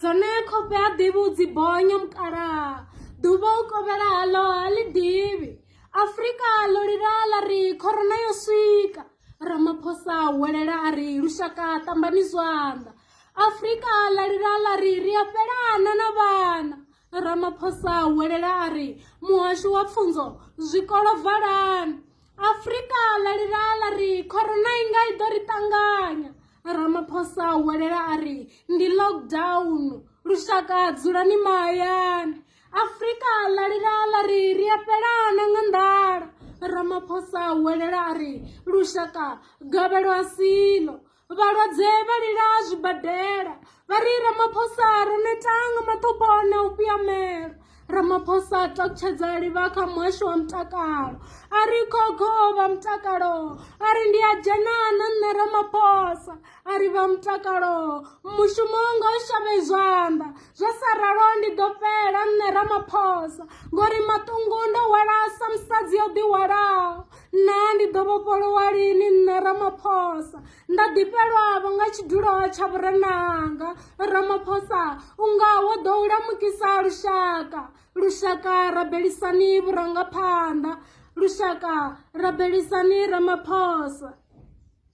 dzone khofhe ha ḓivhi u dzi bonya mukalaha ḓuvha u kovhela haḽo ha ḽi ḓivhi afrika ḽo lilala ri khorona yo swika ramaphosa huwelela a ri lushaka ṱambani zwanḓa afrika ḽa lilala ri ri a fhelana na vhana ramaphosa huwelela a ri muhasho wa pfunzo zwikolo valani afurika ḽa lila ḽa ri khorona i nga i ḓo ri ṱanganya ramaphosa a huwelela a ri ndi lockdown lushaka dzulani mahayani afurika ḽa lila ḽa ri ri a fhelana nga nḓala ramaphosa a huwelela a ri lushaka gavhelo a silo vhalwadze vha lila zwibadela vha ri ramaphosa ro netanga maṱhopho na u fhiyamela ramaphosa a takutshedza livha kha muhasho wa mutakalo a ri khokho vha mutakalo a ri ndi a dzhena na nṋe ramaphosa a ri vha mutakalo mushumo ngo shavhe zwanḓa zwa sa ralo ndi ḓo fhela nṋe ramaphosa ngori maṱungu ndo hwala sa musadzi yo ḓihwalaho naa ndi ḓo vhofholowa lini nṋe ramaphosa nda ḓifhelwavho nga tshidulo tsha vhurenanga ramaphosa u nga wo ḓo u lamukisa lushaka lushaka rabelisani vhurangaphanḓa lushaka rabelisani ramaphosa